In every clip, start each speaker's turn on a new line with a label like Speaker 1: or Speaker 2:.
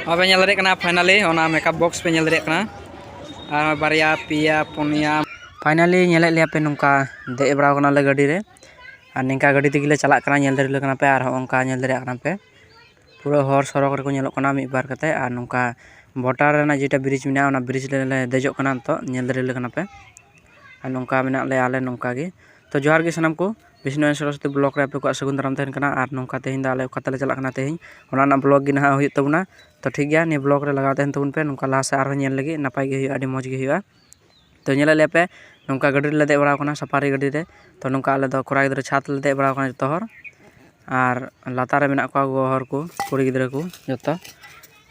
Speaker 1: ᱱᱚᱣᱟ ᱯᱮ ᱧᱮᱞ ᱫᱟᱲᱮᱭᱟᱜ ᱠᱟᱱᱟ ᱯᱷᱟᱭᱱᱟᱞᱤ ᱚᱱᱟ ᱢᱮᱠᱟᱯ ᱵᱚᱠᱥ ᱯᱮ ᱧᱮᱞ ᱫᱟᱲᱮᱭᱟᱜ ᱠᱟᱱᱟ ᱟᱨ ᱵᱟᱨᱭᱟ ᱯᱮᱭᱟ ᱯᱩᱱᱭᱟ ᱯᱷᱟᱭᱱᱟᱞᱤ ᱧᱮᱞᱮᱫ ᱞᱮᱭᱟ ᱯᱮ ᱱᱚᱝᱠᱟ ᱫᱮᱡ ᱵᱟᱲᱟᱣ ᱠᱟᱱᱟᱞᱮ ᱜᱟᱹᱰᱤ ᱨᱮ ᱟᱨ ᱱᱤᱝᱠᱟ ᱜᱟᱹᱰᱤ ᱛᱮᱜᱮ ᱞᱮ ᱪᱟᱞᱟᱜ ᱠᱟᱱᱟ ᱧᱮᱞ ᱫᱟᱲᱮᱭᱟᱞᱮ ᱠᱟᱱᱟ ᱯᱮ ᱟᱨ ᱦᱚᱸᱜᱼᱚ ᱱᱚᱝᱠᱟ ᱧᱮᱞ ᱫᱟᱲᱮᱭᱟᱜ ᱠᱟᱱᱟ ᱯᱮ ᱯᱩᱨᱟᱹ ᱦᱚᱨ ᱥᱚᱲᱚᱠ ᱨᱮᱠᱚ ᱧᱮᱞᱚᱜ ᱠᱟᱱᱟ ᱢᱤᱫ ᱵᱟᱨ ᱠᱟᱛᱮᱫ ᱟᱨ ᱱᱚᱝᱠᱟ ᱵᱳᱰᱟᱨ ᱨᱮᱱᱟᱜ ᱡᱮᱴᱟ ᱵᱨᱤᱡᱽ ᱢᱮᱱᱟᱜᱼᱟ ᱚᱱᱟ ᱵᱨᱤᱡᱽ ᱨᱮᱞᱮ ᱫᱮᱡᱚᱜ ᱠᱟᱱᱟ ᱱᱤᱛᱚᱜ ᱧᱮᱞ ᱫᱟᱲᱮ ᱟᱞᱮ ᱠᱟᱱᱟ ᱯᱮ ᱟᱨ ᱱᱚᱝᱠᱟ ᱢᱮᱱᱟᱜ ᱞᱮᱭᱟ ᱟᱞᱮ ᱱᱚᱝᱠᱟ ᱜᱮ ᱛᱳ ᱡᱚᱦᱟᱨ ᱜᱮ ᱥᱟᱱᱟᱢ ᱠᱚ ᱵᱤᱥᱱᱩ ᱟᱭᱳ ᱥᱚᱨᱚᱥᱚᱛᱤ ᱵᱞᱚᱠ ᱨᱮ ᱟᱯᱮ ᱠᱚᱣᱟᱜ ᱥᱟᱹᱜᱩᱱ ᱫᱟᱨᱟᱢ ᱛᱟᱦᱮᱱ ᱠᱟᱱᱟ ᱟᱨ ᱱᱚᱝᱠᱟ ᱛᱮᱦᱮᱧ ᱫᱚ ᱟᱞᱮ ᱚᱠᱟ ᱛᱮᱞᱮ ᱪᱟᱞᱟᱜ ᱠᱟᱱᱟ ᱛᱮᱦᱮᱧ ᱚᱱᱟ ᱨᱮᱱᱟᱜ ᱵᱞᱚᱠ ᱜᱮ ᱱᱟᱦᱟᱜ ᱦᱩᱭᱩᱜ ᱛᱟᱵᱚᱱᱟ ᱛᱳ ᱴᱷᱤᱠ ᱜᱮᱭᱟ ᱱᱤᱭᱟᱹ ᱵᱞᱚᱠ ᱨᱮ ᱞᱟᱜᱟᱣ ᱛᱟᱦᱮᱱ ᱛᱟᱵᱚᱱ ᱯᱮ ᱱᱚᱝᱠᱟ ᱞᱟᱦᱟ ᱥᱮᱫ ᱟᱨᱦᱚᱸ ᱧᱮᱞ ᱞᱟᱹᱜᱤᱫ ᱱᱟᱯᱟᱭ ᱜᱮ ᱦᱩᱭᱩᱜᱼᱟ ᱟᱹᱰᱤ ᱢᱚᱡᱽ ᱜᱮ ᱦᱩᱭᱩᱜᱼᱟ ᱛᱚ ᱧᱮᱞᱮᱫ ᱞᱮᱭᱟᱯᱮ ᱱᱚᱝᱠᱟ ᱜᱟᱹᱰᱤ ᱨᱮᱞᱮ ᱫᱮᱡ ᱵᱟᱲᱟᱣ ᱠᱟᱱᱟ ᱥᱟᱯᱷᱟᱨᱤ ᱜᱟᱹᱰᱤ ᱨᱮ ᱛᱚ ᱱᱚᱝᱠᱟ ᱟᱞᱮ ᱫᱚ ᱠᱚᱲᱟ ᱜᱤᱫᱽᱨᱟᱹ ᱪᱷᱟᱫᱽ ᱨᱮᱞᱮ ᱫᱮᱡ ᱵᱟᱲᱟᱣ ᱠᱟᱱᱟ ᱡᱚᱛᱚ ᱦᱚᱲ ᱟᱨ ᱞᱟᱛᱟᱨ ᱨᱮ ᱢᱮᱱᱟᱜ ᱠᱚᱣᱟ ᱜᱚᱜᱚ ᱦᱚᱲ ᱠᱚ ᱠᱩᱲᱤ ᱜᱤᱫᱽᱨᱟᱹ ᱠᱚ ᱡᱚᱛᱚ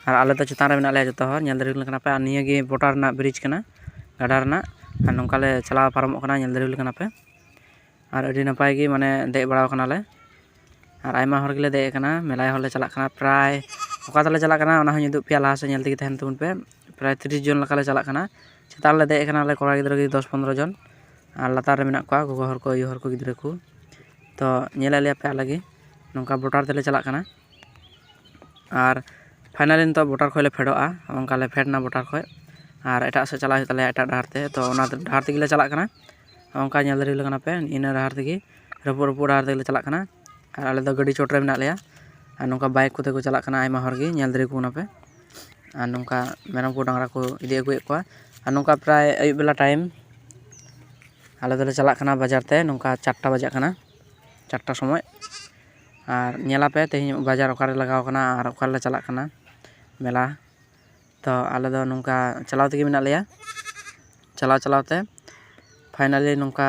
Speaker 1: ᱟᱨ ᱟᱞᱮ ᱫᱚ ᱪᱮᱛᱟᱱ ᱨᱮ ᱢᱮᱱᱟᱜ ᱞᱮᱭᱟ ᱡᱚᱛᱚ ᱦᱚᱲ ᱧᱮᱞ ᱫᱟᱲᱮ ᱟᱞᱮ ᱠᱟᱱᱟᱯᱮ ᱟᱨ ᱱᱤᱭᱟᱹ ᱜᱮ ᱵᱳᱰᱟᱨ ᱨᱮᱱᱟᱜ ᱵᱨᱤᱡᱽ ᱠᱟᱱᱟ ᱜᱟᱰᱟ ᱨᱮᱱᱟᱜ ᱟᱨ ᱱᱚᱝᱠᱟ ᱞᱮ ᱪᱟᱞᱟᱣ ᱯᱟᱨᱚᱢᱚᱜ ᱠᱟᱱᱟ ᱧᱮᱞ ᱫᱟᱲᱮ ᱟᱞᱮ ᱠᱟᱱᱟᱯᱮ ᱟᱨ ᱟᱹᱰᱤ ᱱᱟᱯᱟᱭ ᱜᱮ ᱢᱟᱱᱮ ᱫᱮᱡ ᱵᱟᱲᱟᱣ ᱠᱟᱱᱟᱞᱮ ᱟᱨ ᱟᱭᱢᱟ ᱦᱚᱲ ᱜᱮᱞᱮ ᱫᱮᱡ ᱠᱟᱱᱟ ᱢᱮᱞᱟᱭ ᱦᱚᱲ ᱞᱮ ᱪᱟᱞᱟᱜ ᱠᱟᱱᱟ ᱯᱨᱟᱭ ᱚᱠᱟ ᱛᱮᱞᱮ ᱪᱟᱞᱟᱜ ᱠᱟᱱᱟ ᱚᱱᱟ ᱦᱚᱸᱧ ᱩᱫᱩᱜ ᱯᱮᱭᱟ ᱞᱟᱦᱟ ᱥᱮᱫ ᱧᱮᱞ ᱛᱮᱜᱮ ᱛᱟᱦᱮᱱ ᱛᱟᱵᱚᱱ ᱯᱮ ᱯᱨᱟᱭ ᱛᱤᱨᱤᱥ ᱡᱚᱱ ᱞᱮᱠᱟᱞᱮ ᱪᱟᱞᱟᱜ ᱠᱟᱱᱟ ᱪᱮᱛᱟᱱ ᱨᱮᱞᱮ ᱫᱮᱡ ᱠᱟᱱᱟᱞᱮ ᱠᱚᱲᱟ ᱜᱤᱫᱽᱨᱟᱹ ᱜᱮ ᱫᱚᱥ ᱯᱚᱱᱨᱚ ᱡᱚᱱ ᱟᱨ ᱞᱟᱛᱟᱨ ᱨᱮ ᱢᱮᱱᱟᱜ ᱠᱚᱣᱟ ᱜᱚᱜᱚ ᱦᱚᱲ ᱠᱚ ᱟᱭᱳ ᱦᱚᱲ ᱠᱚ ᱜᱤᱫᱽᱨᱟᱹ ᱠᱚ ᱛᱚ ᱧᱮᱞᱮᱫ ᱞᱮᱭᱟᱯᱮ ᱟᱞᱮ ᱜᱮ ᱱᱚᱝᱠᱟ ᱵᱳᱴᱟᱨ ᱛᱮᱞᱮ ᱪᱟᱞᱟᱜ ᱠᱟᱱᱟ ᱟᱨ ᱯᱷᱟᱭᱱᱟᱞᱤ ᱱᱤᱛᱚᱜ ᱵᱳᱰᱟᱨ ᱠᱷᱚᱱ ᱞᱮ ᱯᱷᱮᱰᱚᱜᱼᱟ ᱚᱱᱠᱟ ᱞᱮ ᱯᱷᱮᱰ ᱮᱱᱟ ᱵᱳᱰᱟᱨ ᱠᱷᱚᱱ ᱟᱨ ᱮᱴᱟᱜ ᱥᱮᱫ ᱪᱟᱞᱟᱜ ᱦᱩᱭᱩᱜ ᱛᱟᱞᱮᱭᱟ ᱮᱴᱟᱜ ᱰᱟᱦᱟᱨ ᱛᱮ ᱛᱳ ᱚᱱᱟ ᱰᱟᱦᱟᱨ ᱛᱮᱜᱮ ᱞᱮ ᱪᱟᱞᱟᱜ ᱠᱟᱱᱟ ᱚᱱᱠᱟ ᱧᱮᱞ ᱫᱟᱲᱮ ᱟᱞᱮ ᱠᱟᱱᱟ ᱯᱮ ᱤᱱᱟᱹ ᱰᱟᱦᱟᱨ ᱛᱮᱜᱮ ᱨᱟᱹᱯᱩᱫ ᱨᱟᱹᱯᱩᱫ ᱰᱟᱦᱟᱨ ᱛᱮᱜᱮ ᱞᱮ ᱪᱟᱞᱟᱜ ᱠᱟᱱᱟ ᱟᱨ ᱟᱞᱮ ᱫᱚ ᱜᱟᱹᱰᱤ ᱪᱚᱴ ᱨᱮ ᱢᱮᱱᱟᱜ ᱞᱮᱭᱟ ᱟᱨ ᱱᱚᱝᱠᱟ ᱵᱟᱭᱤᱠ ᱠᱚᱛᱮ ᱠᱚ ᱪᱟᱞᱟᱜ ᱠᱟᱱᱟ ᱟᱭᱢᱟ ᱦᱚᱲ ᱜᱮ ᱧᱮᱞ ᱫᱟᱲᱮ ᱟᱠᱚ ᱠᱟᱱᱟ ᱯᱮ ᱟᱨ ᱱᱚᱝᱠᱟ ᱢᱮᱨᱚᱢ ᱠᱚ ᱰᱟᱝᱨᱟ ᱠᱚ ᱤᱫᱤ ᱟᱹᱜᱩᱭᱮᱫ ᱠᱚᱣᱟ ᱟᱨ ᱱᱚᱝᱠᱟ ᱯᱨᱟᱭ ᱟᱹᱭᱩᱵ ᱵᱮᱞᱟ ᱴᱟᱭᱤᱢ ᱟᱞᱮ ᱫᱚᱞᱮ ᱪᱟᱞᱟᱜ ᱠᱟᱱᱟ ᱵᱟᱡᱟᱨ ᱛᱮ ᱱᱚᱝᱠᱟ ᱪᱟᱨᱴᱟ ᱵᱟᱡᱟᱜ ᱠᱟᱱᱟ ᱪᱟᱨᱴᱟ ᱥᱚᱢᱚᱭ ᱟᱨ ᱧᱮᱞ ᱟᱯᱮ ᱛᱮᱦᱮᱧ ᱵᱟᱡᱟᱨ ᱚᱠᱟᱨᱮ ᱞᱟᱜᱟᱣ ᱠᱟᱱᱟ ᱟᱨ ᱚᱠᱟ ᱨᱮᱞᱮ ᱪᱟᱞᱟᱜ ᱠᱟᱱᱟ ᱢᱮᱞᱟ ᱛᱚ ᱟᱞᱮ ᱫᱚ ᱱᱚᱝᱠᱟ ᱪᱟᱞᱟᱣ ᱛᱮᱜᱮ ᱢᱮᱱᱟᱜ ᱞᱮᱭᱟ ᱪᱟᱞᱟᱣ ᱪᱟᱞᱟᱣ ᱛᱮ ᱯᱷᱟᱭᱱᱟᱞᱤ ᱱᱚᱝᱠᱟ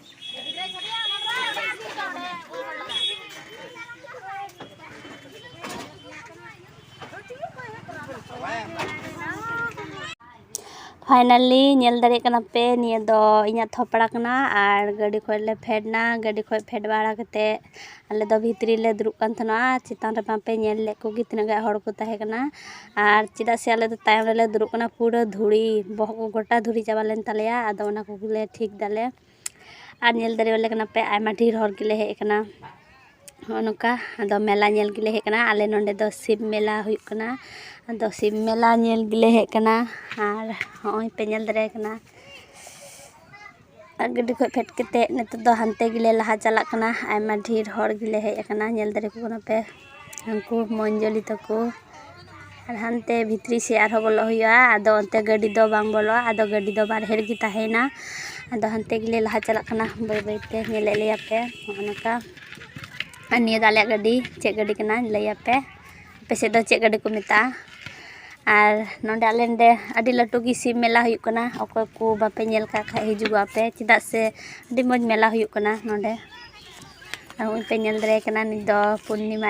Speaker 2: ᱯᱷᱟᱭᱱᱟᱞᱤ ᱧᱮᱞ ᱫᱟᱲᱮᱭᱟᱜ ᱠᱟᱱᱟ ᱯᱮ ᱱᱤᱭᱟᱹ ᱫᱚ ᱤᱧᱟᱹᱜ ᱛᱷᱚᱯᱲᱟ ᱠᱟᱱᱟ ᱟᱨ ᱜᱟᱹᱰᱤ ᱠᱷᱚᱱ ᱞᱮ ᱯᱷᱮᱰ ᱮᱱᱟ ᱜᱟᱹᱰᱤ ᱠᱷᱚᱱ ᱯᱷᱮᱰ ᱵᱟᱲᱟ ᱠᱟᱛᱮᱫ ᱟᱞᱮ ᱫᱚ ᱵᱷᱤᱛᱨᱤ ᱨᱮᱞᱮ ᱫᱩᱲᱩᱵ ᱠᱟᱱ ᱛᱟᱦᱮᱱᱟ ᱪᱮᱛᱟᱱ ᱨᱮ ᱵᱟᱯᱮ ᱧᱮᱞ ᱞᱮᱫ ᱠᱚᱜᱮ ᱛᱤᱱᱟᱹᱜ ᱜᱟᱱ ᱦᱚᱲ ᱠᱚ ᱛᱟᱦᱮᱸ ᱠᱟᱱᱟ ᱟᱨ ᱪᱮᱫᱟᱜ ᱥᱮ ᱟᱞᱮ ᱫᱚ ᱛᱟᱭᱚᱢ ᱨᱮᱞᱮ ᱫᱩᱲᱩᱵ ᱠᱟᱱᱟ ᱯᱩᱨᱟᱹ ᱫᱷᱩᱲᱤ ᱵᱚᱦᱚᱜ ᱠᱚ ᱜᱚᱴᱟ ᱫᱷᱩᱲᱤ ᱪᱟᱵᱟ ᱞᱮᱱ ᱛᱟᱞᱮᱭᱟ ᱟᱫᱚ ᱚᱱᱟ ᱠᱚᱜᱮ ᱞᱮ ᱴᱷᱤᱠ ᱫᱟᱞᱮ ᱟᱨ ᱧᱮᱞ ᱫᱟᱲᱮ ᱟᱞᱮ ᱠᱟᱱᱟ ᱯᱮ ᱟᱭᱢᱟ ᱰᱷᱮᱨ ᱦᱚᱲ ᱜᱮᱞᱮ ᱦᱮᱡ ᱠᱟᱱᱟ ᱱᱚᱜᱼᱚᱸᱭ ᱱᱚᱝᱠᱟ ᱟᱫᱚ ᱢᱮᱞᱟ ᱧᱮᱞ ᱜᱮᱞᱮ ᱦᱮᱡ ᱠᱟᱱᱟ ᱟᱞᱮ ᱱᱚᱰᱮ ᱫᱚ ᱥᱤᱵ ᱢᱮᱞᱟ ᱦᱩᱭᱩᱜ ᱠᱟᱱᱟ ᱟᱫᱚ ᱥᱤᱵ ᱢᱮᱞᱟ ᱧᱮᱞ ᱜᱮᱞᱮ ᱦᱮᱡ ᱠᱟᱱᱟ ᱟᱨ ᱱᱚᱜᱼᱚᱸᱭ ᱯᱮ ᱧᱮᱞ ᱫᱟᱲᱮᱭᱟᱭ ᱠᱟᱱᱟ ᱟᱨ ᱜᱟᱹᱰᱤ ᱠᱷᱚᱡ ᱯᱷᱮᱰ ᱠᱟᱛᱮ ᱱᱤᱛᱚᱜ ᱫᱚ ᱦᱟᱱᱛᱮ ᱜᱮᱞᱮ ᱞᱟᱦᱟ ᱪᱟᱞᱟᱜ ᱠᱟᱱᱟ ᱟᱭᱢᱟ ᱰᱷᱮᱨ ᱦᱚᱲ ᱜᱮᱞᱮ ᱦᱮᱡ ᱠᱟᱱᱟ ᱧᱮᱞ ᱫᱟᱲᱮ ᱠᱚ ᱠᱟᱱᱟ ᱯᱮ ᱩᱱᱠᱩ ᱢᱚᱧᱡᱚᱞᱤ ᱛᱟᱠᱚ ᱟᱨ ᱦᱟᱱᱛᱮ ᱵᱷᱤᱛᱨᱤ ᱥᱮᱡ ᱟᱨᱦᱚᱸ ᱵᱚᱞᱚᱜ ᱦᱩᱭᱩᱜᱼᱟ ᱟᱫᱚ ᱚᱱᱛᱮ ᱜᱟᱹᱰᱤ ᱫᱚ ᱵᱟᱝ ᱵᱚᱞᱚᱜᱼᱟ ᱟᱫᱚ ᱜᱟᱹᱰᱤ ᱫᱚ ᱵᱟᱨᱦᱮ ᱨᱮᱜᱮ ᱛᱟᱦᱮᱱᱟ ᱟᱫᱚ ᱦᱟᱱᱛᱮ ᱜᱮᱞᱮ ᱞᱟᱦᱟ ᱪᱟᱞᱟᱜ ᱠᱟᱱᱟ ᱵᱟᱹᱭ ᱵᱟᱹᱭ ᱛᱮ ᱧᱮᱞᱮᱫ ᱞᱮᱭᱟ ᱯᱮ ᱱᱚᱜᱼᱚ ᱱᱚᱝᱠᱟ ᱟᱨ ᱱᱤᱭᱟᱹ ᱫᱚ ᱟᱞᱮᱭᱟᱜ ᱜᱟᱹᱰᱤ ᱪᱮᱫ ᱜᱟᱹᱰᱤ ᱠᱟᱱᱟ ᱞᱟᱹᱭ ᱟᱯᱮ ᱟᱯᱮ ᱥᱮᱫ ᱫᱚ ᱪᱮᱫ ᱜᱟᱹᱰᱤ ᱠᱚ ᱢᱮᱛᱟᱜᱼᱟ ᱟᱨ ᱱᱚᱰᱮ ᱟᱞᱮ ᱱᱚᱰᱮ ᱟᱹᱰᱤ ᱞᱟᱹᱴᱩ ᱜᱮ ᱥᱤᱵᱽ ᱢᱮᱞᱟ ᱦᱩᱭᱩᱜ ᱠᱟᱱᱟ ᱚᱠᱚᱭ ᱠᱚ ᱵᱟᱯᱮ ᱧᱮᱞ ᱠᱟᱜ ᱠᱷᱟᱡ ᱦᱤᱡᱩᱜᱚᱜ ᱯᱮ ᱪᱮᱫᱟᱜ ᱥᱮ ᱟᱹᱰᱤ ᱢᱚᱡᱽ ᱢᱮᱞᱟ ᱦᱩᱭᱩᱜ ᱠᱟᱱᱟ ᱱᱚᱰᱮ ᱟᱨ ᱱᱚᱜᱼᱚᱭ ᱯᱮ ᱧᱮᱞ ᱫᱟᱲᱮᱭᱟᱭ ᱠᱟᱱᱟ ᱱᱤᱛ ᱫᱚ ᱯᱩᱨᱱᱤᱢᱟ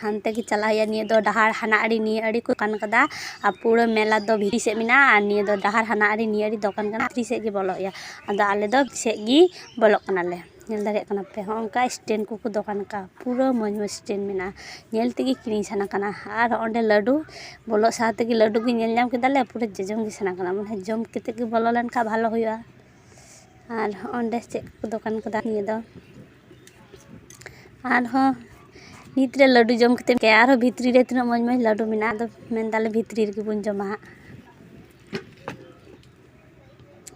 Speaker 2: ᱦᱟᱱᱛᱮ ᱜᱮ ᱪᱟᱞᱟᱜ ᱦᱩᱭᱩᱜᱼᱟ ᱱᱤᱭᱟᱹ ᱫᱚ ᱰᱟᱦᱟᱨ ᱦᱟᱱᱟ ᱟᱲᱮ ᱱᱤᱭᱟᱹ ᱟᱲᱮ ᱠᱚ ᱫᱚᱠᱟᱱ ᱠᱟᱫᱟ ᱟᱨ ᱯᱩᱨᱟᱹ ᱢᱮᱞᱟ ᱫᱚ ᱵᱷᱤᱛᱨᱤ ᱥᱮᱫ ᱢᱮᱱᱟᱜᱼᱟ ᱟᱨ ᱱᱤᱭᱟᱹ ᱫᱚ ᱰᱟᱦᱟᱨ ᱦᱟᱱᱟ ᱟᱲᱮ ᱱᱤᱭᱟᱹ ᱟᱲᱮ ᱫᱚᱠᱟᱱ ᱠᱟᱱᱟ ᱵᱷᱤᱛᱨᱤ ᱥᱮᱫ ᱜᱮ ᱵᱚᱞᱚᱜ ᱦᱩᱭᱩᱜᱼᱟ ᱟᱫᱚ ᱟᱞᱮ ᱫᱚ ᱵᱷᱤᱛᱨᱤ ᱥᱮᱫ ᱜᱮ ᱵᱚᱞᱚᱜ ᱠᱟᱱᱟᱞᱮ ᱧᱮᱞ ᱫᱟᱲᱮᱭᱟᱜ ᱠᱟᱱᱟ ᱯᱮ ᱦᱚᱸᱜᱼᱚ ᱱᱚᱝᱠᱟ ᱥᱴᱮᱱᱰ ᱠᱚᱠᱚ ᱫᱚᱠᱟᱱ ᱠᱟᱜᱼᱟ ᱯᱩᱨᱟᱹ ᱢᱚᱡᱽ ᱢᱚᱡᱽ ᱥᱴᱮᱱᱰ ᱢᱮᱱᱟᱜᱼᱟ ᱧᱮᱞ ᱛᱮᱜᱮ ᱠᱤᱨᱤᱧ ᱥᱟᱱᱟ ᱠᱟᱱᱟ ᱟᱨ ᱚᱸᱰᱮ ᱞᱟᱹᱰᱩ ᱵᱚᱞᱚᱜ ᱥᱟᱶ ᱛᱮᱜᱮ ᱞᱟᱹᱰᱩ ᱜᱮ ᱧᱮᱞ ᱧᱟᱢ ᱠᱮᱫᱟᱞᱮ ᱯᱩᱨᱟᱹ ᱡᱚᱡᱚᱢ ᱜᱮ ᱥᱟᱱᱟ ᱠᱟᱱᱟ ᱢᱟᱱᱮ ᱡᱚᱢ ᱠᱟᱛᱮᱫ ᱜᱮ ᱵᱚᱞᱚ ᱞᱮᱱᱠᱷᱟᱱ ᱵᱷᱟᱞᱮ ᱦᱩᱭᱩᱜᱼᱟ ᱟᱨ ᱚᱸᱰᱮ ᱪᱮᱫ ᱠᱚᱠᱚ ᱫᱚᱠᱟᱱ ᱠᱟᱫᱟ ᱱᱤᱭᱟᱹ ᱫᱚ ᱟᱨᱦᱚᱸ ᱱᱤᱛ ᱨᱮ ᱞᱟᱹᱰᱩ ᱡᱚᱢ ᱠᱟᱛᱮᱫ ᱜᱮ ᱟᱨᱦᱚᱸ ᱵᱷᱤᱛᱨᱤ ᱨᱮ ᱛᱤᱱᱟᱹᱜ ᱢᱚᱡᱽ ᱢᱚᱡᱽ ᱞᱟᱹᱰᱩ ᱢᱮᱱᱟᱜᱼᱟ ᱟᱫᱚ ᱢᱮᱱ ᱫᱟᱞᱮ ᱵᱷᱤᱛᱨᱤ ᱨᱮᱜᱮ ᱵᱚᱱ ᱡᱚᱢᱟ ᱦᱟᱸᱜ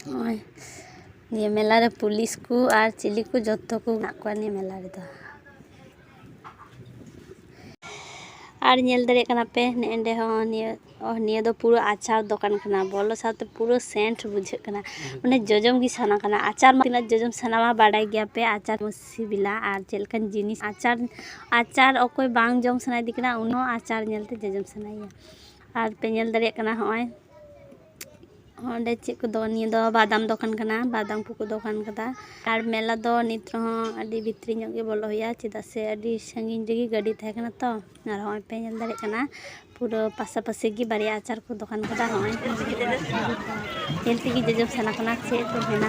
Speaker 2: ᱱᱚᱜᱼᱚᱭ ᱱᱤᱭᱟᱹ ᱢᱮᱞᱟ ᱨᱮ ᱯᱩᱞᱤᱥ ᱠᱚ ᱟᱨ ᱪᱤᱞᱤ ᱠᱚ ᱡᱚᱛᱚ ᱠᱚ ᱢᱮᱱᱟᱜ ᱠᱚᱣᱟ ᱱᱤᱭᱟᱹ ᱢᱮᱞᱟ ᱨᱮᱫᱚ ᱟᱨ ᱧᱮᱞ ᱫᱟᱲᱮᱭᱟᱜ ᱠᱟᱱᱟ ᱯᱮ ᱱᱮᱸᱰᱮ ᱦᱚᱸ ᱱᱤᱭᱟᱹ ᱱᱤᱭᱟᱹ ᱫᱚ ᱯᱩᱨᱟᱹ ᱟᱪᱟᱨ ᱫᱚᱠᱟᱱ ᱠᱟᱱᱟ ᱵᱚᱞᱚ ᱥᱟᱶᱛᱮ ᱯᱩᱨᱟᱹ ᱥᱮᱱᱴ ᱵᱩᱡᱷᱟᱹᱜ ᱠᱟᱱᱟ ᱢᱟᱱᱮ ᱡᱚᱡᱚᱢ ᱜᱮ ᱥᱟᱱᱟ ᱠᱟᱱᱟ ᱟᱪᱟᱨ ᱢᱟ ᱛᱤᱱᱟᱹᱜ ᱡᱚᱡᱚᱢ ᱥᱟᱱᱟ ᱢᱟ ᱵᱟᱰᱟᱭ ᱜᱮᱭᱟ ᱯᱮ ᱟᱪᱟᱨ ᱢᱚᱡᱽ ᱥᱤᱵᱤᱞᱟ ᱟᱨ ᱪᱮᱫ ᱞᱮᱠᱟᱱ ᱡᱤᱱᱤᱥ ᱟᱪᱟᱨ ᱟᱪᱟᱨ ᱚᱠᱚᱭ ᱵᱟᱝ ᱡᱚᱢ ᱥᱟᱱᱟᱭᱮᱫᱮ ᱠᱟᱱᱟ ᱩᱱᱤ ᱦᱚᱸ ᱟᱪᱟᱨ ᱧᱮᱞᱛᱮ ᱡᱚᱡᱚᱢ ᱥᱟᱱᱟᱭᱮᱭᱟ ᱟᱨ ᱯᱮ ᱧᱮᱞ ᱫᱟᱲᱮᱭᱟᱜ ᱠᱟᱱᱟ ᱦᱚᱸᱜᱼᱚᱭ ᱚᱸᱰᱮ ᱪᱮᱫ ᱠᱚ ᱫᱚᱠᱟᱱ ᱱᱤᱭᱟᱹ ᱫᱚ ᱵᱟᱫᱟᱢ ᱫᱚᱠᱟᱱ ᱠᱟᱱᱟ ᱵᱟᱫᱟᱢ ᱠᱚᱠᱚ ᱫᱚᱠᱟᱱ ᱠᱟᱫᱟ ᱟᱨ ᱢᱮᱞᱟ ᱫᱚ ᱱᱤᱛ ᱨᱮᱦᱚᱸ ᱟᱹᱰᱤ ᱵᱷᱤᱛᱨᱤ ᱧᱚᱜ ᱜᱮ ᱵᱚᱞᱚ ᱦᱩᱭᱩᱜᱼᱟ ᱪᱮᱫᱟᱜ ᱥᱮ ᱟᱹᱰᱤ ᱥᱟᱺᱜᱤᱧ ᱨᱮᱜᱮ ᱜᱟᱹᱰᱤ ᱛᱟᱦᱮᱸ ᱠᱟᱱᱟ ᱛᱚ ᱟᱨ ᱦᱚᱸᱜᱼᱚᱭ ᱯᱮ ᱧᱮᱞ ᱫᱟᱲᱮᱭᱟᱜ ᱠᱟᱱᱟ ᱯᱩᱨᱟᱹ ᱯᱟᱥᱟᱯᱟᱥᱤ ᱜᱮ ᱵᱟᱨᱭᱟ ᱟᱪᱟᱨ ᱠᱚ ᱫᱚᱠᱟᱱ ᱠᱟᱫᱟ ᱦᱚᱸᱜᱼᱚᱭ ᱧᱮᱞ ᱛᱮᱜᱮ ᱡᱚᱡᱚᱢ ᱥᱟᱱᱟ ᱠᱟᱱᱟ ᱪᱮᱫ ᱠᱚ ᱢᱮᱱᱟ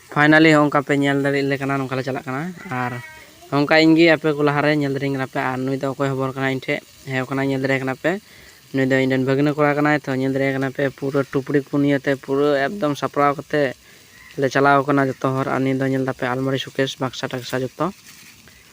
Speaker 2: ᱯᱷᱟᱭᱱᱟᱞᱤ ᱦᱚᱸ ᱚᱱᱠᱟ
Speaker 1: ᱯᱮ ᱧᱮᱞ ᱫᱟᱲᱮᱭᱟᱜ ᱞᱮ ᱠᱟᱱᱟ ᱱᱚᱝᱠᱟ ᱞᱮ ᱪᱟᱞᱟᱜ ᱠᱟᱱᱟ ᱟᱨ ᱱᱚᱝᱠᱟ ᱤᱧ ᱜᱮ ᱟᱯᱮ ᱠᱚ ᱞᱟᱦᱟᱨᱮ ᱧᱮᱞ ᱫᱟᱲᱮᱭᱟᱹᱧ ᱠᱟᱱᱟ ᱯᱮ ᱟᱨ ᱱᱩᱭ ᱫᱚ ᱚᱠᱚᱭ ᱦᱚᱵᱚᱨ ᱠᱟᱱᱟᱭ ᱤᱧ ᱴᱷᱮᱡ ᱦᱮᱣ ᱠᱟᱱᱟᱭ ᱧᱮᱞ ᱫᱟᱲᱮᱭᱟᱭ ᱠᱟᱱᱟ ᱯᱮ ᱱᱩᱭ ᱫᱚ ᱤᱧ ᱨᱮᱱ ᱵᱷᱟᱹᱜᱽᱱᱟᱹ ᱠᱚᱲᱟ ᱠᱟᱱᱟᱭ ᱛᱚ ᱧᱮᱞ ᱫᱟᱲᱮᱭᱟᱭ ᱠᱟᱱᱟ ᱯᱮ ᱯᱩᱨᱟᱹ ᱴᱩᱯᱲᱤ ᱠᱚ ᱱᱤᱭᱟᱹᱛᱮ ᱯᱩᱨᱟᱹ ᱮᱠᱫᱚᱢ ᱥᱟᱯᱲᱟᱣ ᱠᱟᱛᱮ ᱞᱮ ᱪᱟᱞᱟᱣ ᱠᱟᱱᱟ ᱡᱚᱛᱚ ᱦᱚᱲ ᱟᱨ ᱱᱤᱭᱟᱹ ᱫᱚ ᱧᱮᱞ ᱫᱟᱯᱮ ᱟᱞᱢᱟᱨᱤ ᱥᱩᱠᱮᱥ ᱵᱟᱠᱥᱟ ᱴᱟᱠᱥᱟ ᱡᱚᱛᱚ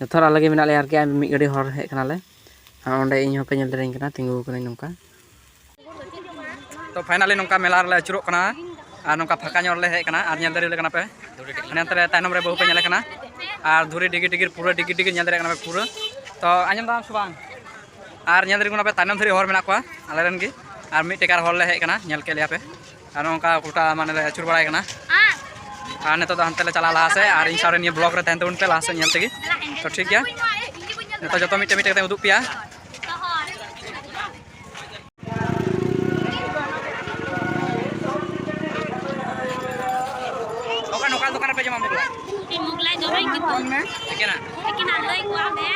Speaker 1: ᱡᱚᱛᱚ ᱦᱚᱲ ᱟᱞᱮ ᱜᱮ ᱢᱮᱱᱟᱜ ᱞᱮᱭᱟ ᱟᱨᱠᱤ ᱢᱤᱫ ᱜᱟᱹᱰᱤ ᱦᱚᱲ ᱦᱮᱡ ᱠᱟᱱᱟᱞᱮ ᱟᱨ ᱚᱸᱰᱮ ᱤᱧ ᱦᱚᱸᱯᱮ ᱧᱮᱞ ᱫᱟᱲᱮᱭᱟᱹᱧ ᱠᱟᱱᱟ ᱛᱤᱸᱜᱩ ᱠᱟᱹᱱᱟᱹᱧ ᱱᱚᱝᱠᱟ ᱛᱚ ᱯᱷᱟᱭᱱᱟᱞᱤ ᱱᱚᱝᱠᱟ ᱢᱮᱞᱟ ᱨᱮᱞᱮ ᱟᱹᱪᱩᱨᱚᱜ ᱠᱟᱱᱟ ᱟᱨ ᱱᱚᱝᱠᱟ ᱯᱷᱟᱸᱠᱟ ᱧᱚᱜ ᱨᱮᱞᱮ ᱦᱮᱡ ᱠᱟᱱᱟ ᱟᱨ ᱧᱮᱞ ᱫᱟᱲᱮᱭᱟᱞᱮ ᱠᱟᱱᱟ ᱯᱮ ᱱᱚᱛᱮ ᱨᱮ ᱛᱟᱭᱱᱚᱢ ᱨᱮ ᱵᱟᱹᱦᱩ ᱯᱮ ᱧᱮᱞᱮ ᱠᱟᱱᱟ ᱟᱨ ᱫᱷᱩᱨᱤ ᱰᱤᱜᱤ ᱰᱤᱜᱤᱨ ᱯᱩᱨᱟᱹ ᱰᱤᱜᱤ ᱰᱤᱜᱤ ᱧᱮᱞ ᱫᱟᱲᱮᱭᱟᱜ ᱠᱟᱱᱟ ᱯᱮ ᱯᱩᱨᱟᱹ ᱛᱚ ᱟᱸᱡᱚᱢ ᱫᱟᱢ ᱥᱮ ᱵᱟᱝ ᱟᱨ ᱧᱮᱞ ᱫᱟᱲᱮᱭᱟᱜ ᱠᱟᱱᱟ ᱯᱮ ᱛᱟᱭᱱᱚᱢ ᱫᱷᱟᱹᱨᱤᱡ ᱦᱚᱲ ᱢᱮᱱᱟᱜ ᱠᱚᱣᱟ ᱟᱞᱮ ᱨᱮᱱ ᱜᱮ ᱟᱨ ᱢᱤᱫ ᱴᱮᱠᱟᱨ ᱦᱚᱲ ᱞᱮ ᱦᱮᱡ ᱠᱟᱱᱟ ᱧᱮᱞ ᱠᱮᱫ ᱞᱮᱭᱟ ᱯᱮ ᱟᱨ ᱱᱚᱝᱠᱟ ᱜᱚᱴᱟ ᱢᱟᱱᱮ ᱞᱮ ᱟᱹᱪᱩᱨ ᱵᱟᱲᱟᱭ ᱠᱟᱱᱟ ᱟᱨ ᱱᱤᱛᱚᱜ ᱫᱚ ᱦᱟᱱᱛᱮ ᱞᱮ ᱪᱟᱞᱟᱜᱼᱟ ᱞᱟᱦᱟ ᱥᱮᱫ ᱟᱨ ᱤᱧ ᱥᱟᱶᱨᱮ ᱱᱤᱭᱟᱹ ᱵᱞᱚᱜ ᱨᱮ ᱛᱟᱦᱮᱱ ᱛᱟᱵᱚᱱ ᱯᱮ ᱞᱟᱦᱟ ᱥᱮᱫ ᱧᱮᱞ ᱛᱮᱜᱮ ᱛᱚ ᱴᱷᱤᱠ ᱜᱮᱭᱟ ᱱᱤᱛᱚᱜ ᱡᱚᱛᱚ ᱢᱤᱫᱴᱮᱡ ᱢᱤᱫᱴᱮᱡ ᱠᱟᱛᱮ ᱩᱫᱩᱜ ᱯᱮᱭᱟ ᱚᱠᱟ ᱱᱚᱠᱟ ᱫᱚᱠᱟᱱ ᱨᱮᱯᱮ ᱡᱚᱢᱟ ᱢᱩᱜᱽᱞᱟ ᱢᱩᱜᱽᱞᱟ ᱡᱚᱢᱟᱹᱧ ᱠᱤᱱᱛᱩ ᱮᱠᱮᱱᱟ ᱮᱠᱮᱱᱟ ᱞᱟᱹᱭ ᱠᱚᱣᱟ ᱢᱮ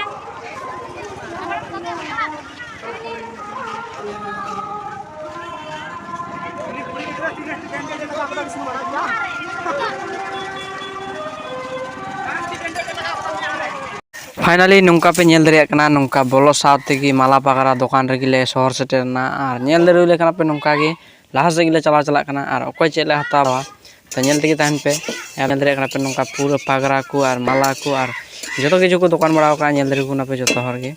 Speaker 1: ᱯᱷᱟᱭᱱᱟᱞᱤ ᱱᱚᱝᱠᱟ ᱯᱮ ᱧᱮᱞ ᱫᱟᱲᱮᱭᱟᱜ ᱠᱟᱱᱟ ᱱᱚᱝᱠᱟ ᱵᱚᱞᱚ ᱥᱟᱶ ᱛᱮᱜᱮ ᱢᱟᱞᱟ ᱯᱟᱜᱽᱨᱟ ᱫᱚᱠᱟᱱ ᱨᱮᱜᱮ ᱞᱮ ᱥᱚᱦᱚᱨ ᱥᱮᱴᱮᱨᱱᱟ ᱟᱨ ᱧᱮᱞ ᱫᱟᱲᱮ ᱦᱩᱭ ᱞᱮᱠᱷᱟᱱ ᱯᱮ ᱱᱚᱝᱠᱟ ᱜᱮ ᱞᱟᱦᱟ ᱥᱮᱫ ᱜᱮᱞᱮ ᱪᱟᱞᱟᱣ ᱪᱟᱞᱟᱜ ᱠᱟᱱᱟ ᱟᱨ ᱚᱠᱚᱭ ᱪᱮᱫ ᱞᱮ ᱦᱟᱛᱟᱣᱟ ᱛᱚ ᱧᱮᱞ ᱛᱮᱜᱮ ᱛᱟᱦᱮᱱ ᱯᱮ ᱧᱮᱞ ᱫᱟᱲᱮᱭᱟᱜ ᱠᱟᱱᱟ ᱯᱮ ᱱᱚᱝᱠᱟ ᱯᱩᱨᱟᱹ ᱯᱟᱜᱽᱨᱟ ᱠᱚ ᱟᱨ ᱢᱟᱞᱟ ᱠᱚ ᱟᱨ ᱡᱚᱛᱚ ᱠᱤᱪᱷᱩ ᱠᱚ ᱫᱚᱠᱟᱱ ᱵᱟᱲᱟᱣ ᱠᱟᱜᱼᱟ ᱧᱮᱞ ᱫᱟᱲᱮ ᱠᱚ ᱠᱟᱱᱟ ᱯᱮ ᱡᱚᱛᱚ ᱦᱚᱲ ᱜᱮ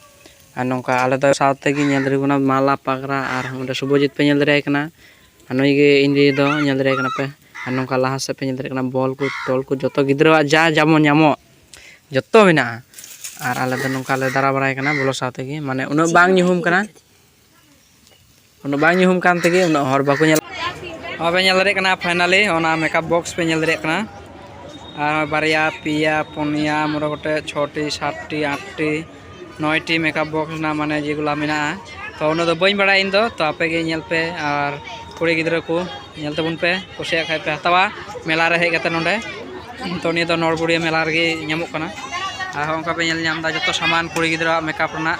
Speaker 1: ᱟᱨ ᱱᱚᱝᱠᱟ ᱟᱞᱮ ᱫᱚ ᱥᱟᱶ ᱛᱮᱜᱮ ᱧᱮᱞ ᱫᱟᱲᱮ ᱟᱠᱚ ᱠᱟᱱᱟ ᱢᱟᱞᱟ ᱯᱟᱜᱽᱨᱟ ᱟᱨ ᱚᱸᱰᱮ ᱥᱩᱵᱷᱚᱡᱤᱛ ᱯᱮ ᱧᱮᱞ ᱫᱟᱲᱮᱭᱟᱭ ᱠᱟᱱᱟ ᱟᱨ ᱱᱩᱭ ᱜᱮ ᱤᱧ ᱫᱤᱫᱤ ᱫᱚ ᱧᱮᱞ ᱫᱟᱲᱮᱭᱟᱭ ᱠᱟᱱᱟ ᱯᱮ ᱟᱨ ᱱᱚᱝᱠᱟ ᱞᱟᱦᱟ ᱥᱮᱫ ᱯᱮ ᱧᱮᱞ ᱫᱟᱲᱮᱭᱟᱜ ᱠᱟᱱᱟ ᱵᱚᱞ ᱠᱚ ᱴᱚᱞ ᱠᱚ ᱡᱚᱛᱚ ᱜᱤᱫᱽᱨᱟᱹᱣᱟᱜ ᱡᱟ ᱡᱮᱢᱚᱱ ᱧᱟᱢᱚᱜ ᱡᱚᱛᱚ ᱢᱮᱱᱟᱜᱼᱟ ᱟᱨ ᱟᱞᱮ ᱫᱚ ᱱᱚᱝᱠᱟ ᱞᱮ ᱫᱟᱬᱟ ᱵᱟᱲᱟᱭ ᱠᱟᱱᱟ ᱵᱚᱞᱚ ᱥᱟᱶ ᱛᱮᱜᱮ ᱢᱟᱱᱮ ᱩᱱᱟᱹᱜ ᱵᱟᱝ ᱧᱩᱦᱩᱢ ᱠᱟᱱᱟ ᱩᱱᱟᱹᱜ ᱵᱟᱝ ᱧᱩᱦᱩᱢ ᱠᱟᱱ ᱛᱮᱜᱮ ᱩᱱᱟᱹᱜ ᱦᱚᱲ ᱵᱟᱠᱚ ᱧᱮᱞ ᱦᱚᱸ ᱯᱮ ᱧᱮᱞ ᱫᱟᱲᱮᱭᱟᱜ ᱠᱟᱱᱟ ᱯᱷᱟᱭᱱᱟᱞᱤ ᱚᱱᱟ ᱢᱮᱠᱟᱯ ᱵᱚᱠᱥ ᱯᱮ ᱧᱮᱞ ᱫᱟᱲᱮᱭᱟᱜ ᱠᱟᱱᱟ ᱟᱨ ᱵᱟᱨᱭᱟ ᱯᱮᱭᱟ ᱯᱩᱱᱭᱟ ᱢᱚᱬᱮ ᱜᱚᱴᱮᱡ ᱪᱷᱚᱴᱤ ᱥᱟᱛᱴᱤ ᱟᱴᱴᱤ ᱱᱚᱭᱴᱤ ᱢᱮᱠᱟᱯ ᱵᱚᱠᱥ ᱨᱮᱱᱟᱜ ᱢᱟᱱᱮ ᱡᱮᱜᱩᱞᱟ ᱢᱮᱱᱟᱜᱼᱟ ᱛᱚ ᱩᱱᱟᱹᱜ ᱫᱚ ᱵᱟᱹᱧ ᱵᱟᱲᱟᱭᱟ ᱤᱧ ᱫᱚ ᱛᱚ ᱟᱯᱮ ᱜᱮ ᱧᱮᱞ ᱯᱮ ᱟᱨ ᱠᱩᱲᱤ ᱜᱤᱫᱽᱨᱟᱹ ᱠᱚ ᱧᱮᱞ ᱛᱟᱵᱚᱱ ᱯᱮ ᱠᱩᱥᱤᱭᱟᱜ ᱠᱷᱟᱡ ᱯᱮ ᱦᱟᱛᱟᱣᱟ ᱢᱮᱞᱟ ᱨᱮ ᱦᱮᱡ ᱠᱟᱛᱮ ᱱᱚᱰᱮ ᱛᱚ ᱱᱤᱭᱟᱹ ᱫᱚ ᱱᱚᱲᱵᱩᱲᱤᱭᱟᱹ ᱢᱮᱞᱟ ᱨᱮᱜᱮ ᱧᱟᱢᱚᱜ ᱠᱟᱱᱟ ᱟᱨᱦᱚᱸ ᱚᱱᱠᱟ ᱯᱮ ᱧᱮᱞ ᱧᱟᱢᱫᱟ ᱡᱚᱛᱚ ᱥᱟᱢᱟᱱ ᱠᱩᱲᱤ ᱜᱤᱫᱽᱨᱟᱹᱣᱟᱜ ᱢᱮᱠᱟᱯ ᱨᱮᱱᱟᱜ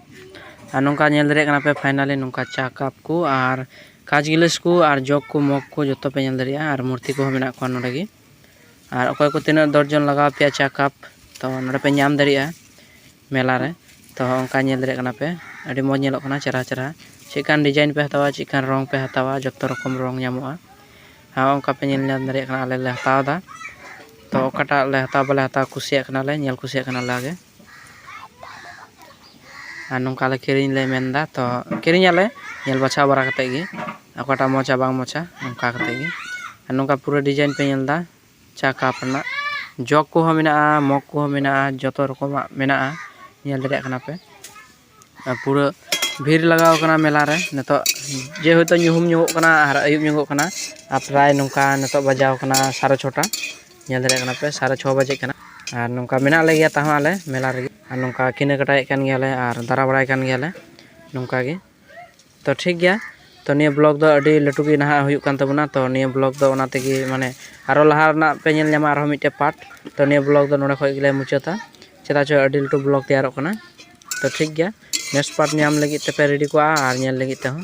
Speaker 1: ᱟᱨ ᱱᱚᱝᱠᱟ ᱧᱮᱞ ᱫᱟᱲᱮᱭᱟᱜ ᱠᱟᱱᱟ ᱯᱮ ᱯᱷᱟᱭᱱᱟᱞᱤ ᱱᱚᱝᱠᱟ ᱪᱟ ᱠᱟᱯ ᱠᱚ ᱟᱨ ᱠᱟᱸᱪ ᱜᱤᱞᱟᱹᱥ ᱠᱚ ᱟᱨ ᱡᱚᱜᱽ ᱠᱚ ᱢᱚᱜᱽ ᱠᱚ ᱡᱚᱛᱚ ᱯᱮ ᱧᱮᱞ ᱫᱟᱲᱮᱭᱟᱜᱼᱟ ᱟᱨ ᱢᱩᱨᱛᱤ ᱠᱚᱦᱚᱸ ᱢᱮᱱᱟᱜ ᱠᱚᱣᱟ ᱱᱚᱰᱮ ᱜᱮ ᱟᱨ ᱚᱠᱚᱭ ᱠᱚ ᱛᱤᱱᱟᱹᱜ ᱫᱚᱨᱡᱚᱱ ᱞᱟᱜᱟᱣ ᱯᱮᱭᱟ ᱪᱟ ᱠᱟᱯ ᱛᱚ ᱱᱚᱰᱮ ᱯᱮ ᱧᱟᱢ ᱫᱟᱲᱮᱭᱟᱜᱼᱟ ᱢᱮᱞᱟ ᱨᱮ ᱛᱚ ᱚᱱᱠᱟ ᱧᱮᱞ ᱫᱟᱲᱮᱭᱟᱜ ᱠᱟᱱᱟ ᱯᱮ ᱟᱹᱰᱤ ᱢᱚᱡᱽ ᱧᱮᱞᱚᱜ ᱠᱟᱱᱟ ᱪᱮᱦᱨᱟ ᱪᱮᱦᱨᱟ ᱪᱮᱫ ᱞᱮᱠᱟᱱ ᱰᱤᱡᱟᱭᱤᱱ ᱯᱮ ᱦᱟᱛᱟᱣᱟ ᱪᱮᱫ ᱞᱮᱠᱟᱱ ᱨᱚᱝ ᱯᱮ ᱦᱟᱛᱟᱣᱟ ᱡᱚᱛᱚ ᱨᱚᱠᱚᱢ ᱨᱚᱝ ᱧᱟᱢᱚᱜᱼᱟ ᱟᱨ ᱚᱱᱠᱟ ᱯᱮ ᱧᱮᱞ ᱧᱟᱢ ᱫᱟᱲᱮᱭᱟᱜ ᱠᱟᱱᱟ ᱟᱞᱮ ᱞᱮ ᱦᱟᱛᱟᱣᱫᱟ ᱛᱚ ᱚᱠᱟᱴᱟᱜ ᱞᱮ ᱦᱟᱛᱟᱣ ᱵᱟᱞᱮ ᱦᱟᱛᱟᱣ ᱠᱩᱥᱤᱭᱟᱜ ᱠᱟᱱᱟᱞᱮ ᱧᱮᱞ ᱠᱩᱥᱤᱭᱟᱜ ᱠᱟᱱᱟᱞᱮ ᱟᱜᱮ ᱟᱨ ᱱᱚᱝᱠᱟ ᱞᱮ ᱠᱤᱨᱤᱧ ᱞᱮ ᱢᱮᱱ ᱮᱫᱟ ᱛᱚ ᱠᱤᱨᱤᱧ ᱟᱞᱮ ᱧᱮᱞ ᱵᱟᱪᱷᱟᱣ ᱵᱟᱲᱟ ᱠᱟᱛᱮ ᱜᱮ ᱚᱠᱟᱴᱟᱜ ᱢᱚᱡᱟ ᱵᱟᱝ ᱢᱚᱡᱟ ᱚᱱᱠᱟ ᱠᱟᱛᱮ ᱜᱮ ᱟᱨ ᱱᱚᱝᱠᱟ ᱯᱩᱨᱟᱹ ᱰᱤᱡᱟᱭᱤᱱ ᱯᱮ ᱧᱮᱞ ᱮᱫᱟ ᱪᱟ ᱠᱟᱯ ᱨᱮᱱᱟᱜ ᱡᱚᱜᱽ ᱠᱚᱦᱚᱸ ᱢᱮᱱᱟᱜᱼᱟ ᱢᱚᱜᱽ ᱠᱚᱦᱚᱸ ᱢᱮᱱᱟᱜᱼᱟ ᱡᱚᱛᱚ ᱨᱚᱠᱚᱢᱟᱜ ᱢᱮᱱᱟᱜᱼᱟ ᱧᱮᱞ ᱫᱟᱲᱮᱭᱟᱜ ᱠᱟᱱᱟ ᱯᱮ ᱟᱨ ᱯᱩᱨᱟᱹ ᱵᱷᱤᱲ ᱞᱟᱜᱟᱣ ᱟᱠᱟᱱᱟ ᱢᱮᱞᱟ ᱨᱮ ᱱᱤᱛᱚᱜ ᱡᱮ ᱦᱳᱭᱛᱳ ᱧᱩᱦᱩᱢ ᱧᱚᱜᱚᱜ ᱠᱟᱱᱟ ᱟᱨ ᱟᱹᱭᱩᱵ ᱧᱚᱜᱚᱜ ᱠᱟᱱᱟ ᱟᱨ ᱯᱨᱟᱭ ᱱᱚᱝᱠᱟ ᱱᱤᱛᱚᱜ ᱵᱟᱡᱟᱣ ᱟᱠᱟᱱᱟ ᱥᱟᱲᱮ ᱪᱷᱚᱴᱟ ᱧᱮᱞ ᱫᱟᱲᱮᱭᱟᱜ ᱠᱟᱱᱟ ᱯᱮ ᱥᱟᱲᱮ ᱪᱷᱚ ᱵᱟᱡᱮᱜ ᱠᱟᱱᱟ ᱟᱨ ᱱᱚᱝᱠᱟ ᱢᱮᱱᱟᱜ ᱞᱮᱜᱮᱭᱟ ᱛᱟᱣ ᱦᱚᱸ ᱟᱞᱮ ᱢᱮᱞᱟ ᱨᱮᱜᱮ ᱟᱨ ᱱᱚᱝᱠᱟ ᱠᱮᱱᱟᱠᱟᱴᱟᱭᱮᱫ ᱠᱟᱱ ᱜᱮᱭᱟᱞᱮ ᱟᱨ ᱫᱟᱬᱟ ᱵᱟᱲᱟᱭ ᱠᱟᱱ ᱜᱮᱭᱟᱞᱮ ᱱᱚᱝᱠᱟ ᱜᱮ ᱛᱚ ᱴᱷᱤᱠ ᱜᱮᱭᱟ ᱛᱚ ᱱᱤᱭᱟᱹ ᱵᱞᱚᱜᱽ ᱫᱚ ᱟᱹᱰᱤ ᱞᱟᱹᱴᱩ ᱜᱮ ᱱᱟᱦᱟᱜ ᱦᱩᱭᱩᱜ ᱠᱟᱱ ᱛᱟᱵᱚᱱᱟ ᱛᱚ ᱱᱤᱭᱟᱹ ᱵᱞᱚᱜᱽ ᱫᱚ ᱚᱱᱟ ᱛᱮᱜᱮ ᱢᱟᱱᱮ ᱟᱨᱚ ᱞᱟᱦᱟ ᱨᱮᱱᱟᱜ ᱯᱮ ᱧᱮᱞ ᱧᱟᱢᱟ ᱟᱨᱦᱚᱸ ᱢᱤᱫᱴᱮᱱ ᱯᱟᱨᱴ ᱛᱚ ᱱᱤᱭᱟᱹ ᱵᱞᱚᱜᱽ ᱫᱚ ᱱᱚᱰᱮ ᱠᱷᱚᱱ ᱜᱮᱞᱮ ᱢᱩᱪᱟᱹᱫᱟ ᱪᱮᱫᱟᱜ ᱪᱚ ᱟᱹᱰᱤ ᱞᱟᱹᱴᱩ ᱵᱞᱚᱜᱽ ᱛᱮᱭᱟᱨᱚᱜ ᱠᱟᱱᱟ ᱛᱚ ᱴᱷᱤᱠ ᱜᱮᱭᱟ ᱱᱮᱠᱥᱴ ᱯᱟᱨᱴ ᱧᱟᱢ ᱞᱟᱹᱜᱤᱫ ᱛᱮᱯᱮ ᱨᱮᱰᱤ ᱠᱚᱜᱼᱟ ᱟᱨ ᱧᱮᱞ ᱞᱟᱹᱜᱤᱫ ᱛᱮᱦᱚᱸ